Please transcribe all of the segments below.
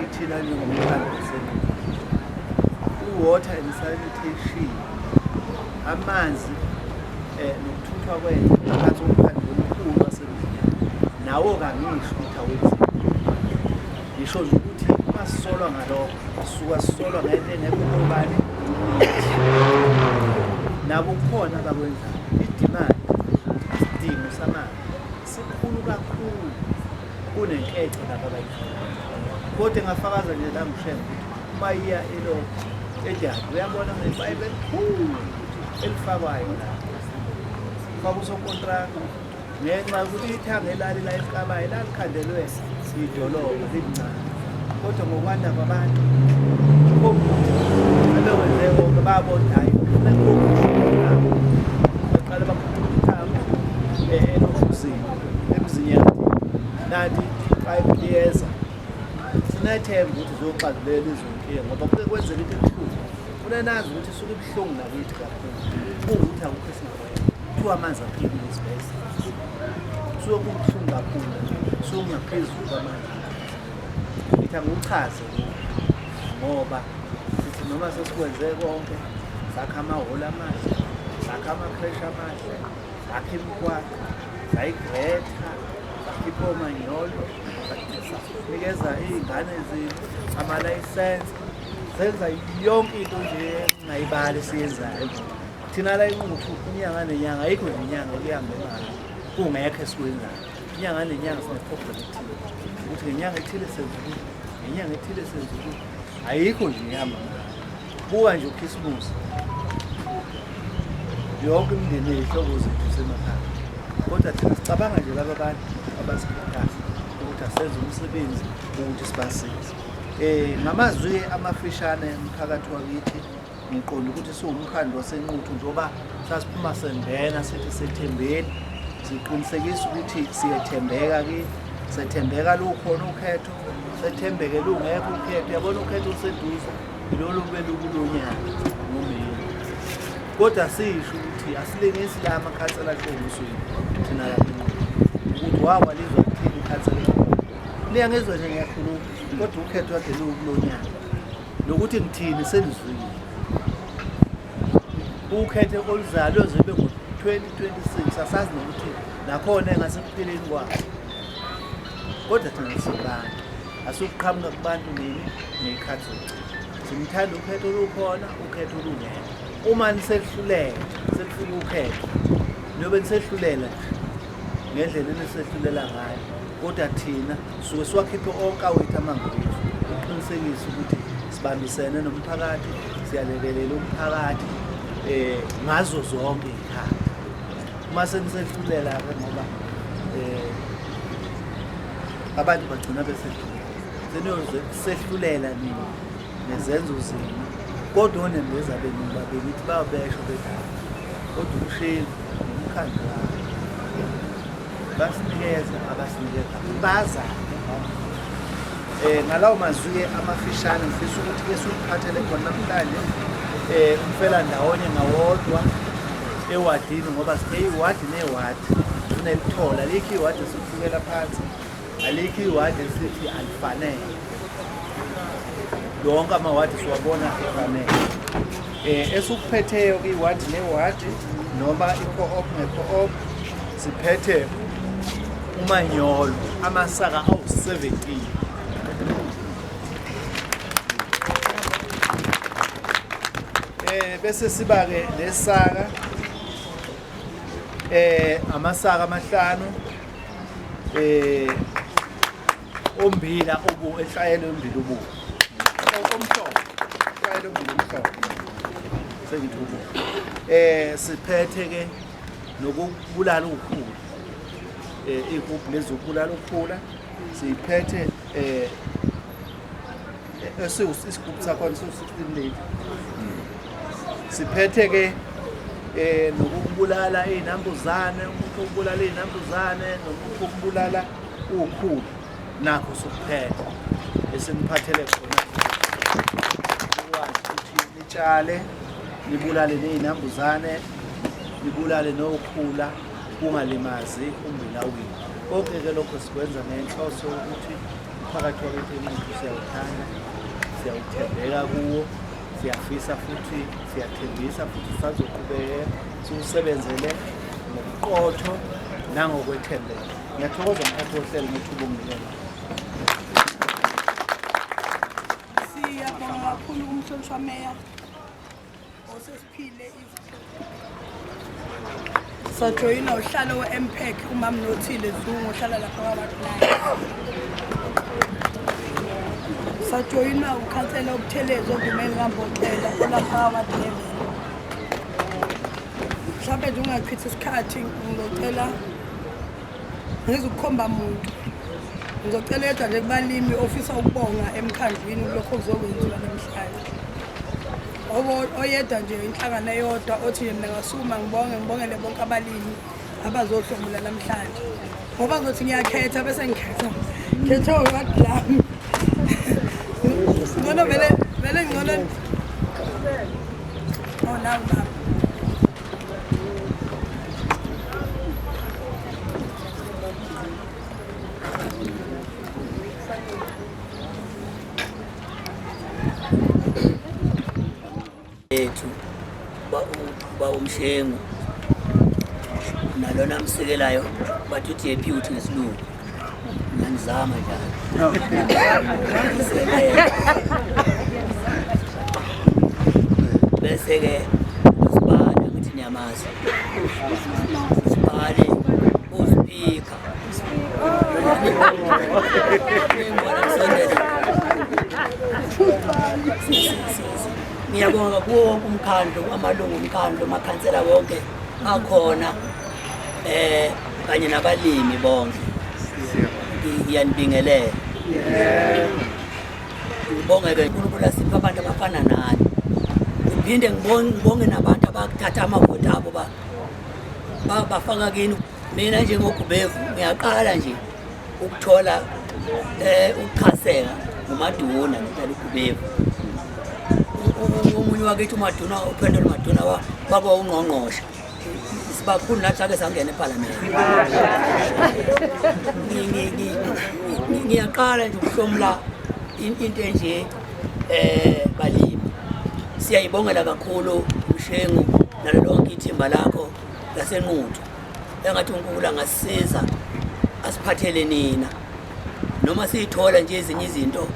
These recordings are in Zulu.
Ithina njengomhlangano i-water and sanitation amanzi eh, nokuthuthwa kwethu phakathi komphandi omkhulu wasemzini nawo kangisho ukuthi awenzi ngisho nje ukuthi basisolwa ngalokho suka sisolwa ngento engekho obani nabo kukhona abakwenzayo idimandi isidingo samanzi sikhulu kakhulu kunenkece lapha abayidlala kodwa engafakaza nje la ngishela ukuthi uma iya elokhu edabi uyabona ngebayibe elikhulu elifakwayo la kwakusokontraka ngenxa yokuthi ithange elali la elikabayo lalikhandelwe idolobha lilincane kodwa ngokwanda kwabantu abewenze konke babondayo emzinyati nanti five liyeza sinethemba ukuthi uzoxazulela izonkinga ngoba kuke kwenzeka into ebuhlungu funa nazi ukuthi isuke ibuhlungu nakithi kakhulu kuwukuthi akukho esingakwenza kuthiwa amanzi aphilile esibhedlela suke kubuhlungu kakhulu suke kungaphezulu kwamanzi ngithi angiwuchaze ngoba sithi noma sesikwenze konke sakha amahholo amahle sakha ama-crash amahle zakhe imigwaqo zayigretha zakhipha omanyolo nikeza iy'ngane zethu amalayisense senza yonke into nje engayibali siyenzayo thina la inquthu inyanga nenyanga ayikho nje inyanga ekuhambe ngayo kungekho esikwenzayo inyanga nenyanga sineprogram ethile ukuthi ngenyanga ethile senza ukuthi ngenyanga ethile senza ukuthi ayikho nje ihamba ngayo Buka nje uKhisimusi. Yonke imindeni yethu ukuze kusemakhaya. Kodwa thina sicabanga nje laba bantu abasikhuthaza ukuthi asenze umsebenzi ukuthi sibasize. Eh ngamazwi amafishane emphakathi wakithi ngiqonda ukuthi siwumkhandlu wasenquthu njengoba sasiphuma sengena sithi sethembeni siqinisekisa ukuthi siyethembeka kithi sethembeka lukhona ukhetho sethembeke lungekho ukhetho yabona ukhetho useduze Lolo kumele ukulonyana ngomeni. Kodwa sisho ukuthi asilengisi la amakhansela aqondisweni thina la ukuthi wawa lizwa kuthini ikhansela. Liya ngezwe nje ngiyakhuluma kodwa ukhetho wakhe lokulonyana. Nokuthi ngithini senizwile. Ukhethe oluzalwe zibe ngo 2026 asazi nokuthi nakhona engase kupheleni kwakhe. Kodwa thina sibantu Asukuqhamuka kubantu nini ngekhathi zokugcina. Simthanda ukhetho olukhona, ukhetho olungekho. Uma nisehlulele, sekufika ukhetho. Niyobe nisehlulela ngendlela enisehlulela ngayo. Kodwa thina suke siwakhiphe onke awethu amangwethu ukuqinisekisa ukuthi sibambisene nomphakathi, siyalekelela umphakathi eh ngazo zonke ikhaya. Uma senisehluleka ke ngoba eh abantu bagcina besedlula seniyozwe kusehlulela nini nezenzo zenu kodwa onembeza benu babili ithi babesho bedala kodwa umsheli nomkhandlu wabo basinikeza abasinikeza bazane um ngalawo mazwi-ke amafishane ngifisa ukuthi ke siwuphathele khona namhlanje um umfela ndawonye ngawodwa ewadini ngoba sike iwadi newadi kunelithola likho iwadi Ngela phansi. Alikho iward esithi alifanele. Yonke ama ward siwabona efanele. Eh esukuphetheyo kwi ward ne ward noma i co-op ne co-op siphethe umanyolo amasaka awu-17 eh bese siba-ke nesaka eh amasaka amahlanu eh ombila obu enhlayelo yombila obu omhlophe enhlayelo yombila omhlophe sengithubo eh siphethe ke nokubulala ukukhula eh ikuphi lezokubulala ukukhula siphethe eh isigubhu sakhona siwu-16 lady siphethe ke eh nokubulala izinambuzane umuntu ubulala izinambuzane nomuntu ubulala ukhulu nakho sokuphetha esimuphathele khona ukwazi ukuthi nitshale nibulale nezinambuzane nibulale nokhula kungalimazi umbila wini konke ke lokho sikwenza ngenhloso ukuthi phakathi kwakethu umuntu siyawuthanda siyawuthembeka kuwo siyafisa futhi siyathembisa futhi sazoqhubeke siwusebenzele ngobuqotho nangokwethembeka ngiyathokoza mphathi wohlelo ngethuba umnikelo siyabonga kakhulu kumhlonishwa meya sajoyina uhlalo we-mpac umam nothile zungu ohlala lapha kwabakulaya sajoyina ukhansela obuthelezi ogumeni kamboxela olapha kwabadevel mhlawumbe nje ungachithi isikhathi ngizocela ngizukukhomba muntu ngizocela yedwa nje kubalimi ofisa ukubonga emkhandlwini kulokho kuzokwenziwa namhlanje oyedwa nje inhlangano eyodwa othi mina ngasukuma ngibonge ngibongele bonke abalimi abazohlomula namhlanje ngoba ngothi ngiyakhetha bese ngikhetha khetha iwadi lami ngcono vele vele ngcono oh nawu baba ethu uba umshengu nalona amsekelayo bathi uthi ephi uthi ngesilungu nganizama njalo bese-ke usibale ukuthi niyamazi usibale uziphikha ngiyabonga kuwo wonke umkhandlu amalungu omkhandlu amakhansela wonke akhona eh kanye nabalimi bonke ngiyanibingelela ngibonge-ke unkulunkulu asiphe abantu abafana nani ngiphinde ngibonge nabantu abakuthatha amavoti abo bafaka kini Mina njengoGubevu ngiyaqala nje ukuthola eh ukuchaseka nguMaduna ngicela uGubevu. Umunye wakithi uMaduna uPhendelo Maduna waba ungqongqoshe. Sibakhulu nathi ake sangena eParliament. Ngiyaqala nje ukuhlomla into enje eh balimi. Siyayibongela kakhulu uShengu nalolonke ithimba lakho. yasenquthu engathi unkulunkulu angasisiza asiphathele nina noma siyithola nje ezinye izinto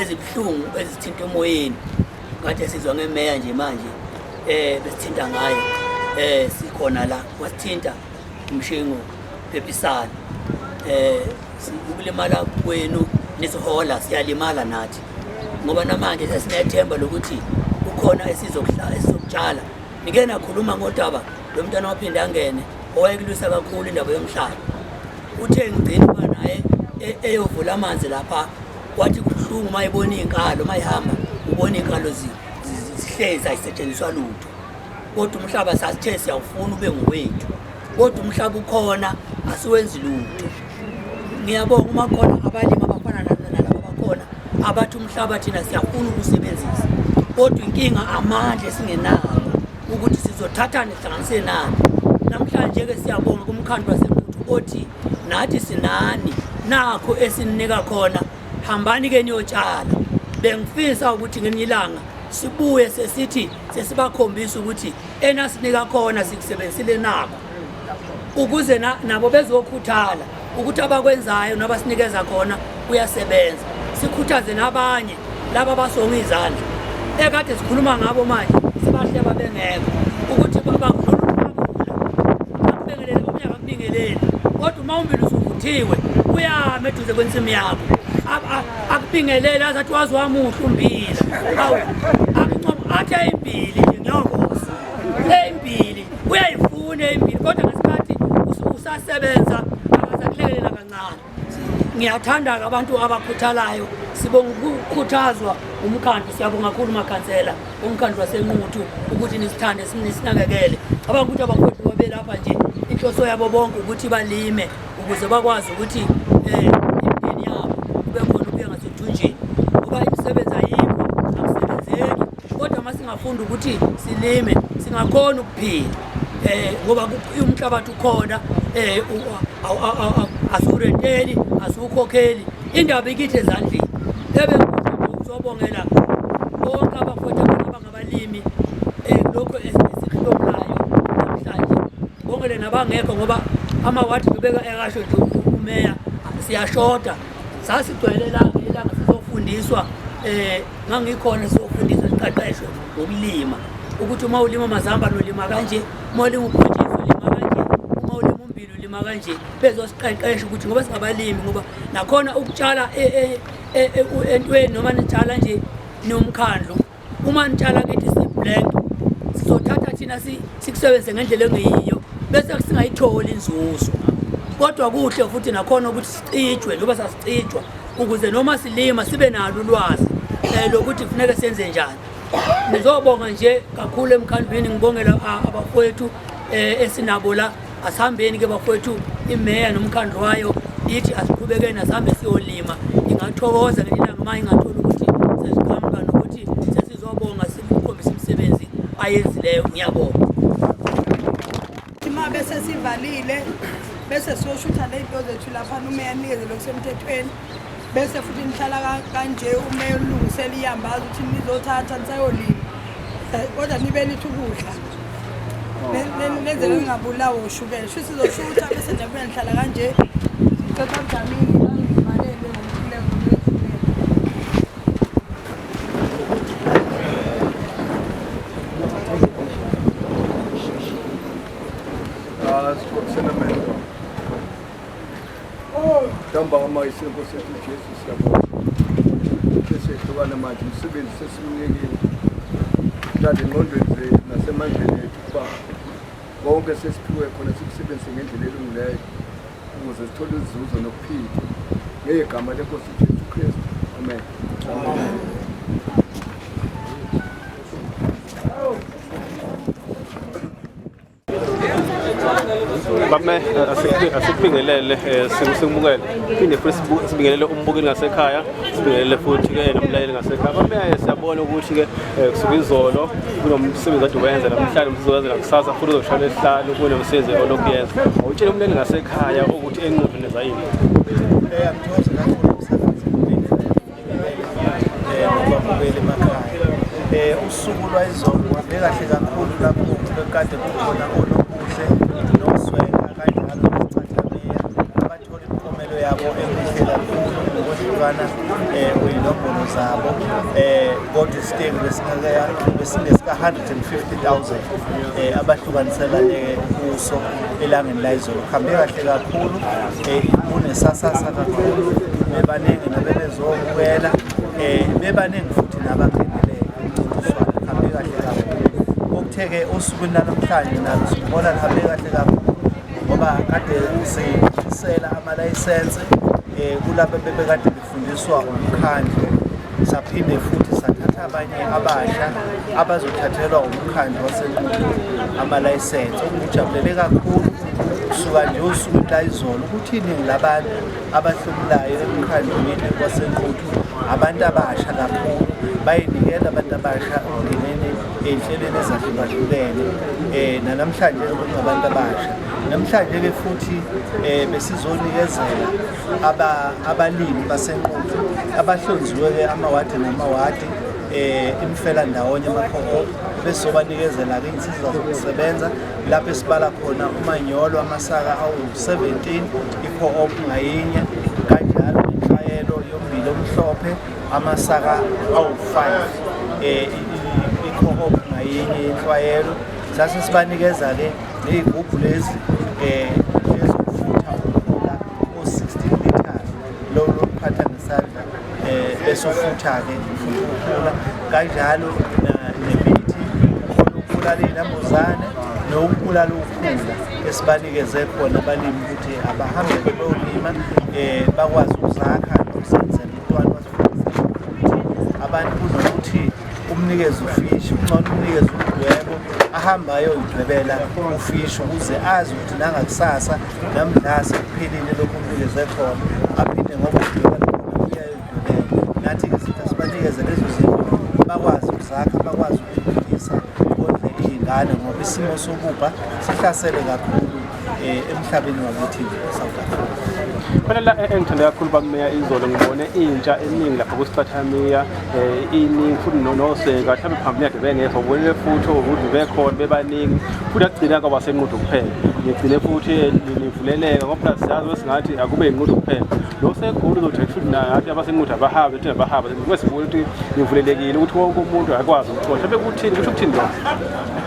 ezibuhlungu ezithinta emoyeni ngathi sizwa ngemeya nje manje eh besithinta ngayo eh sikhona la wasithinta umshingo phephisana eh ukulimala kwenu nesihola siyalimala nathi ngoba namanje sesinethemba lokuthi kukhona esizokuhlala esizokutshala Ngike nakhuluma ngodaba lo mntwana waphinde angene owayekulwisa kakhulu indaba yomhlaba uthe ngigcina uba naye e-, eyovula amanzi lapha kwathi kubuhlungu uma ebona iy'nkalo uma ihamba ubona iy'nkalo zihlezi ayisetshenziswa lutho kodwa umhlaba sasithe siyawufuna ube ngowethu kodwa umhlaba ukhona asiwenzi lutho ngiyabonga uma khona abalimi abafana nalaba bakhona abathi umhlaba thina siyafuna ukusebenzisa kodwa inkinga amandla esingenawo ukuthi sizothathane sihlanganise nani namhlanje-ke siyabonga kumkhandlu wasenkuthu othi nathi sinani nakho esininika khona hambani-ke niyotshala bengifisa ukuthi ngelinye ilanga sibuye sesithi sesibakhombisa ukuthi enasinika khona sikusebenzisile nakho ukuze nabo bezokhuthala ukuthi abakwenzayo nabasinikeza khona kuyasebenza sikhuthaze nabanye laba basonga izandla ekade sikhuluma ngabo manje sibahleba bengekho ukuthi babanghlolubabingelele omunye akakubingeleli kodwa uma umbili usuvuthiwe uyame eduze kwensimu yakho akubingelele azathi wazi wamuhle umbila awu akuncomo athe imbili nje ngiyokosa eyimbili uyayifuna impilo kodwa ngesikhathi usasebenza akazakulekelela kancane ngiyathanda-ke abantu abakhuthalayo sibonga ukukhuthazwa umkhandlu siyabonga kakhulu makhansela umkhandlu wasenquthu ukuthi nisithande nisinakekele cabanga ukuthi abafowethu babelapha nje inhloso yabo bonke ukuthi balime ukuze bakwazi ukuthi um Kodwa uma singafunda ukuthi silime singakhona ukuphila eh ngoba umhlabathi ukhona eh asurenteli asukhokheli indaba ikithi ezandleni ebe ngizobongela bonke abafowethu abangabalimi eh lokho esikhulumlayo namhlanje bongele nabangekho ngoba amawadi ubeka ekasho nje umeya siyashoda sasigcwele ilanga ilanga sizofundiswa um ngangikhona sizofundiswa siqeqeshwe ngokulima ukuthi uma ulima mazamba nolima kanje uma ulima ubhontshisi ulima kanje uma ulima umbili ulima kanje bezosiqeqesha ukuthi ngoba singabalimi ngoba nakhona ukutshala e, e, e, entweni noma nitshala nje nomkhandlu Uma nitshala kithi siblank sizothatha thina sikusebenzise ngendlela engeyiyo bese singayitholi inzuzo kodwa kuhle futhi nakhona ukuthi sicijwe njengoba sasicijwa ukuze noma silima sibe nalo ulwazi um lokuthi kufuneke senze njani ngizobonga nje kakhulu emkhandlwini ngibongela abafowethu um esinabo la Asihambeni ke bakwethu imeya nomkhandlu wayo ithi asiqhubekeni asihambe siyolima ingathokoza ngelinye ilanga uma ingathola ukuthi sesiqhamuka nokuthi sesizobonga sikukhombisa imisebenzi ayenzileyo ngiyabonga uma bese sivalile bese siyoshutha ley'nto zethu lapha umeya anikeze lokusemthethweni bese futhi nihlala kanje ume ulungisela iyambazi ukuthi nizothatha nisayolima eh, kodwa nibe nithi ukudla oh. nenzele ngingabulawa ushukela shuthi sizoshutha bese njabuya nihlala kanje cetha mdamini Ntambama isenkosi sethu Jesu siyabonga sesehlukana manje umsebenzi sesimnikile mhlawumbe engqondweni zethu nasemandleni ethu ukuba konke sesiphiwe khona sikusebenzise ngendlela elungileyo ukuze sithole izuzo nokuphila ngegama lenkosi Jesu Kristu amen, amen. bame eh, asikubingelele eh, sikumukele phinde futhi sibingelele umbukeli ngasekhaya sibingelele futhi-ke nomlaleli ngasekhaya bameye eh, siyabona ukuthi-ke kusuke izolo kunomsebenzi kade uwenza namhlanje umsebenzi wenza nakusasa futhi uzoshona esihlanu kunomsebenzi olokuyenza awutshele umlaleli ngasekhaya ukuthi enqudini zayini babukele emakhaya um usuku lwayizolo kwabe kahle kakhulu lapho bekade kukhona onobuhle noswela kanye nalocathamiya abathola imiphumelo yabo emihle kakhulu ngokuhlukana um eh, kweyinombolo zabo um kodwa isitengu besingesika-hundred and fifty thousand um eh, abahlukaniselane kuso elangeni layizolo kuhambe kahle kakhulu Eh, kunesasasa kakhulu bebaningi nabebezobukela um eh, bebaningi futhi nabangenele umcintiswano lihambe kahle kakhulu okutheke osukwini lanamhlanje nalo sibona lihambe kahle kakhulu ngoba kade sisela amalayisense um eh, kulaba bebekade fundiswa umkhandlu saphinde futhi sathatha abanye abasha abazothathelwa umkhandlu wasenqulu amalayisensi okungijabulele kakhulu kusuka nje usuku layizolo ukuthi iningi labantu abahlomulayo emkhandlwini wasenquthu abantu abasha kakhulu bayinikela abantu abasha okungeneni ey'nhlelweni ezahlukahlukene um nanamhlanje kungabantu abasha namhlanje-ke futhi um besizonikeza abalimi basenquthu abahlonziwe-ke amawadi namawadi um eh, imfela ndawonye amakhoho besobanikezela-ke insiza zokusebenza lapho esibala khona umanyolo amasaka awu-17 i-co-op ngayinye kanjalo inhlayelo yombili omhlophe amasaka awu-5 um eh, i-co-op ngayinye yenhlwayelo sase sibanikeza-ke ney'gubhu lezi um ezokufutha ukudlula o-sixteen meters lolu lokuphatha ngesandla um bese ufutha-ke ukula kanjalo nemithi ukubulala iy'nambuzane nokubulala ukhula esibanikeze khona abalimi ukuthi abahambe beyolima um bakwazi ukuzakha nokusenzela umntwana abantu kunokuthi umnikeze ufishi kungcono umnikeze umdwebo ahambe ayoyidwebela ufishi ukuze azi ukuthi nangakusasa namdlase kuphelile lokhu umnikeze khona aphinde ngoba udweba uyayoyidwebela nathi izinto sibanikeze lezo zinto bakwazi ukuzakha bakwazi ukuphilisa kodle iy'ngane ngoba isimo sokubha sihlasele kakhulu eh, emhlabeni wakithi nje eSouth Africa. Phela la eh, engithanda kakhulu bameya izolo ngibone intsha eningi lapha kusicathamiya eh, iningi futhi nonoseka mhlawumbe phambili yakhe bengekho ubonile futhi ukuthi bekhona bebaningi futhi akugcina kwaba senqudo kuphela ngigcine futhi nivuleleka ngoba phela siyazi wesingathi akube yinqudo kuphela lo segulu uzothi futhi nathi abasenqudo abahambe thina bahambe ngoba sibona ukuthi nivulelekile ukuthi wonke umuntu akwazi ukuxosha bekuthini kusho ukuthini lokho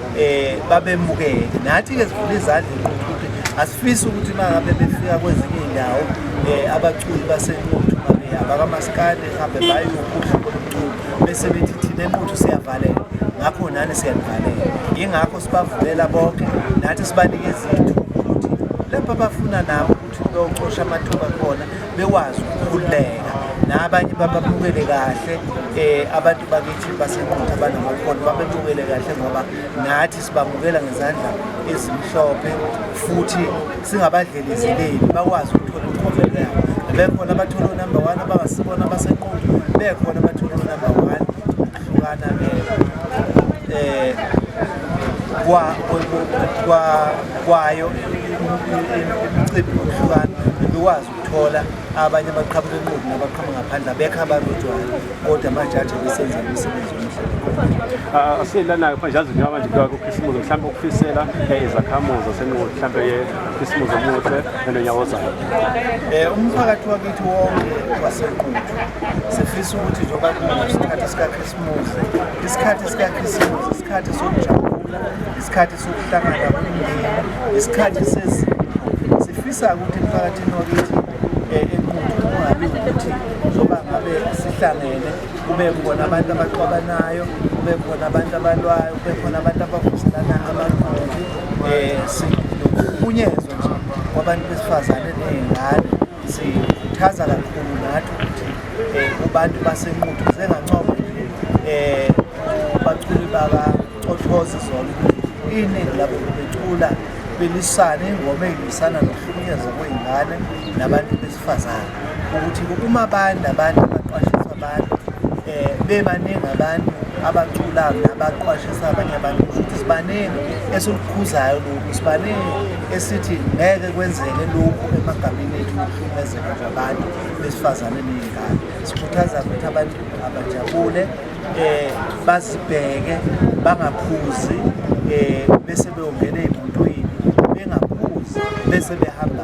eh babemukele nathi ke sivula izandla inquthuthi asifisi ukuthi mangabe befika kwezinye indawo eh abaculi basenquthu babe abakamaskandi hambe bayokudla komculo bese bethi thina enquthu siyavaleka ngakho nani siyanivalela ingakho sibavulela bonke nathi sibanikeza ithuba ukuthi lapha bafuna nabo Ucosha amathuba khona bekwazi ukukhululeka nabanye bababukele kahle um abantu bakithi basenqutha abanamakhono babebukele kahle ngoba nathi sibamukela ngezandla ezimhlophe futhi singabadlelezeleli bakwazi ukuthola umphumela yabo bekhona abathola unumber one abasibona abasenqutha bekhona abathola unumber one Hlukana eh kwa kwa kwayo imicimbi yokuhlukana bekwazi ukuthola abanye abaqhamuka enqubu nabaqhamuka ngaphandle abekho abarojwayo kodwa amajaji abesenza imisebenzi ah, asilanayo manje azinjengabanje kukhisimuzo mhlawumbe ukufisela eh, izakhamuzi zasenqubu mhlawumbe isimuzi omuhle nenonyawo ozayo um umphakathi wakithi wonke wasenquthu sifisa ukuthi njengoba kunesikhathi sikakhisimuzi isikhathi sikakhisimuzi isikhathi sokujabula isikhathi sokuhlangana kwemndeni isikhathi sezimo sifisa ukuthi emphakathini wakithi um enquthu kungabi ukuthi njengoba ngabe sihlangene kube khona abantu abaqwabanayo kube khona abantu abalwayo kube khona abantu abavuselana amagqoki eh, sinokuhlukunyezwa nje kwabantu besifazane ney'ngane sikhuthaza kakhulu nathi ukuthi eh, kubantu basenquthu sengancoma eh, baculi bakacothose zona iningi labo becula belisane ingoma eyilwisana nokuhlukunyezwa kwey'ngane nabantu Fazana ukuthi uma abantu abantu abaqwashisa abantu eh bebaningi abantu abacula nabaqwashisa abanye abantu ukuthi sibaningi esilukhuzayo lokhu sibaningi esithi ngeke kwenzeke lokhu emagameni ethu okuhlukumezeka kwabantu besifazane ney'ngane sikhuthaza ukuthi abantu abajabule eh bazibheke bangaphuzi eh bese beyongena ezintweni bengaphuzi bese behamba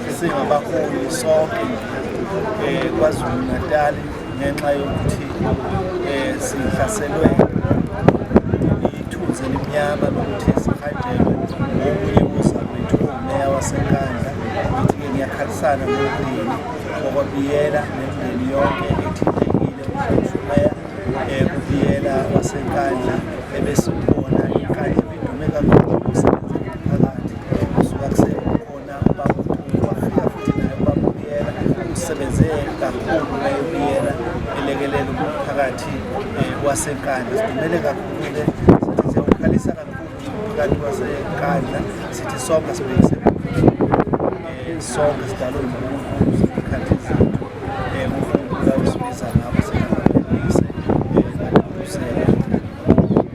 singabaholi sonke eh, kwazulu natali ngenxa yokuthi eh, sihlaselwe ithunzi elimnyama lokuthi sihajelwe okunye kuzakwethu umeya wasenkandla ithi-ke ngiyakhalisana nomndeni okwabiyela nemndeni yonke ethintekile umeya eh, kubiyela wasenkandla ebesibona inkandla bedume kakhulu umsebenzi womphakathi kusuka kusekhona usebenze kakhulu nayobiyela elekelela umphakathi eh, wasenkandla sidumele kakhulu-ke sithi siyawukhalisa kakhulu umphakathi wasenkandla sithi sonke sibhekise eh, sonke sidalwe unkulunkulu zikhathi zethu eh, unkulunkulu awusibiza ngabo